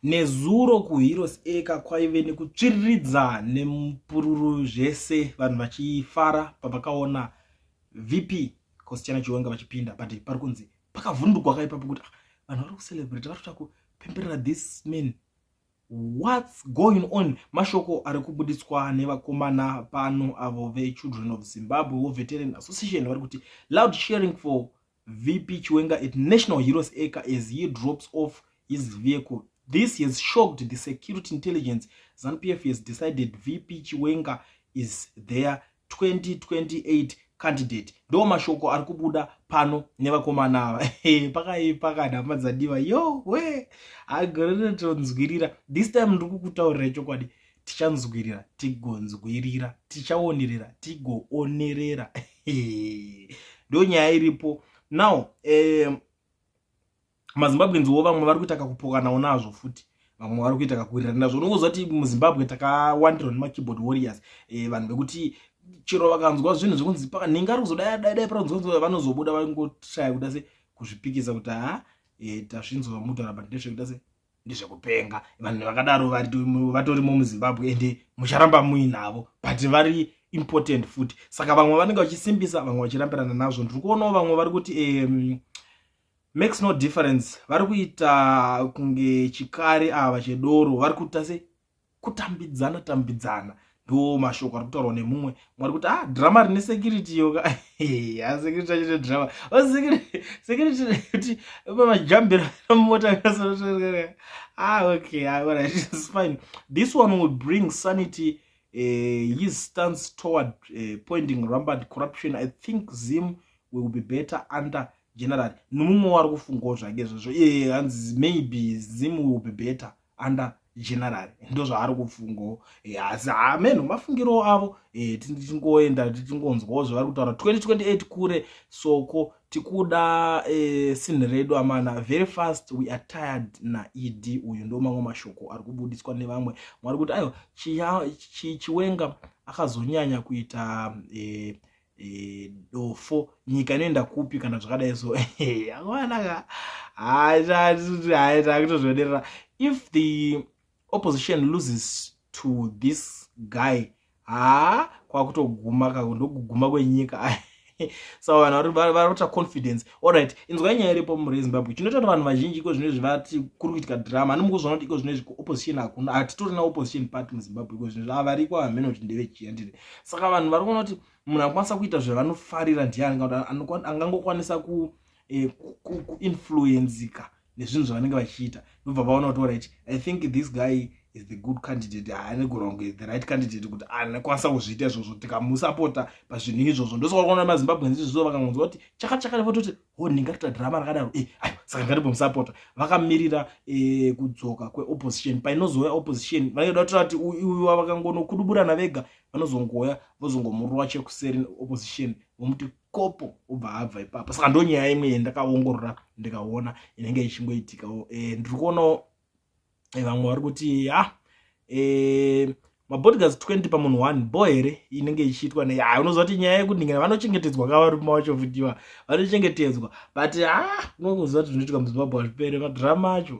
Nezuro kuHeroes Acre kwaive nekutsviriridza nemupururu zvese vanhu vachifara pavakaona VP Kosichana Chiwenga vachipinda but pari kunzi pakavhundukwa ka ipapo kuti ah, vanhu vari kucelebrate vari kuta kupemberera this man what's going on mashoko ari kubuditswa nevakomana pano avo vechildren of zimbabwe wo veteran association vari kuti loud sharing for VP Chiwenga at National Heroes Acre as he drops off his vehicle. This has shocked the security intelligence. ZANPF has decided VP Chiwenga is their 2028 candidate. Ndo mashoko ari kubuda pano nevakomana ava. Pakaipa kana hama dzadiwa. Yo, we. Agorere tonzwirira. This time ndiri kukutaurira chokwadi. tichanzwirira tigonzwirira tichaonerera tigoonerera ndo nyaya iripo now eh, mazimbabweans wo vamwe vari kuita kakupokanawo nazvo futi vamwe vari kuita kakuwirirana nazvo unokuziva kuti muzimbabwe takawandirwa nemakeyboard warriors eh, vanhu vekuti chero vakanzwa zvinhu zvekunzi nhinga ari kuzodai dai dai paranzwa vanozobuda vangotraya kuda se kuzvipikisa kuti ha e, eh, tasvinzwa mudhara but ndezvekuda se ndezvekupenga vanhu vakadaro vatorimo muzimbabwe ende mucharamba muinavo but vari important futi saka vamwe vanenge vachisimbisa vamwe vachirambirana nazvo ndiri kuonawo vamwe vari kuti um, makes no difference vari kuita kunge chikari ava chedoro vari kuita se kutambidzana tambidzana ndo mashoko ari kutaurwa nemumwe mwari kuti ah drama rine security yoka asecurity ah, achite drama oh, security kuti majambiro mota ah okay ah, alright it's fine this one will bring sanity uh, his stance toward uh, pointing rampant corruption i think zim will be better under general nomumwe wari kufungawo zvake zvazvo iye hanzi maybe zim will be better uh, under general ndozvaari kufungawo eh, asi hamenhu mafungiro avo eh, tichingoenda tichingonzwawo zvavari kutaura 2028 kure soko tikuda eh, sinhi redu amana very fast we are tired naed uyu ndo mamwe mashoko ari kubudiswa nevamwe mwari kuti aiwa chiwenga akazonyanya kuita e, dofo nyika inoenda kupi kana zvakadai so awanaka haitozvionerera if the opposition loses to this guy haa kwakutoguma kakundokuguma kwenyika so vanhu vari kuita confidence Alright, inzwai nyaya iripo mure Zimbabwe. Chinotaura vanhu vazhinji iko zvino zvivati kuri kuitika drama. Ani mukuzvona kuti iko zvino zviko opposition hakuna. Hatitorina opposition party muZimbabwe iko zvino zvava variko hameno kuti ndeve chiya ndiri. Saka vanhu vari kuona kuti munhu anokwanisa kuita zvavanofarira ndiani kana kuti angangokwanisa ku eh, ku, ku, ku influenzika nezvinhu zvavanenge vachiita ndobva vaona kuti orit i think this guy is the good candidate haane kuronge the right candidate kuti anokwanisa kuzviita izvozvo tikamusapota pazvinhu izvozvo ndosakaona mazimbabweans izvozvo vakangonzwa kuti chakachaka nevatoti ho oh, ndingatoita drama rakadaro e eh, ayo saka ngatibhomusapota vakamirira eh, kudzoka kweopposition painozouya opposition vanenge da kutora kuti uiwa vakangonokuduburana vega vanozongoya vozongomurova chekuseri opposition vomuti kopo obva abva ipapa saka ndonyaya imwe yendakaongorora ndikaona inenge ichingoitikawo e, eh, ndiri kuonawo eh, vamwe vari kuti ha ah, e, eh, mabodygas 20 pamunhu one bo here inenge ichiitwa nei ha ah, unoziva kuti nyaya yekundingana vanochengetedzwa ka varume vacho vutiwa vanochengetedzwa but ha ah, unokuziva kuti zvinoitika muzimbabwe hazvipere madrama acho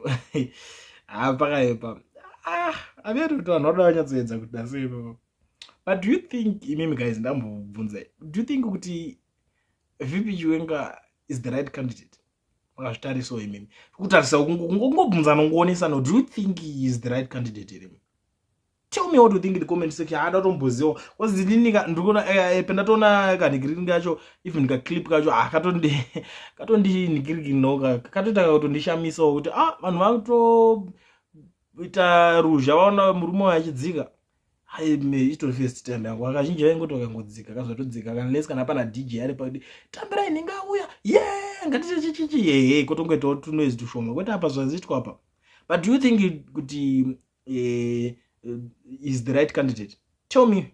ha pakaepa ah, averito vanhu vanoda vanyatsoedza kuti dasei papa but do you think imimi guys ndambobvunza do you think kuti vp chiwenga is the right candidate makazvitarisawo imimi kutarisa kungobvunzana kungowonesana do you think he is the right candidate here tell me what you think in the comment section haada tomboziwa bcause inini ndikuona eh, eh, pendatoona kanhikiriki kacho even kaclip kacho ah, katondi katondinhikiriki noka katoita kakutondishamisawo kuti ah vanhu vakutoita ruzha vaona murume wayachidzika aime itori first time yangu akazhinji vaingoti vakangodzika kazvatodzika kanles kana pana dj ari pakudi tambira ini ngauya ye ngatite chichichi yeye kotongoitawo tunoise tushoma kwete apa zvaziitwa apa but do you think kuti uh, is the right candidate tell me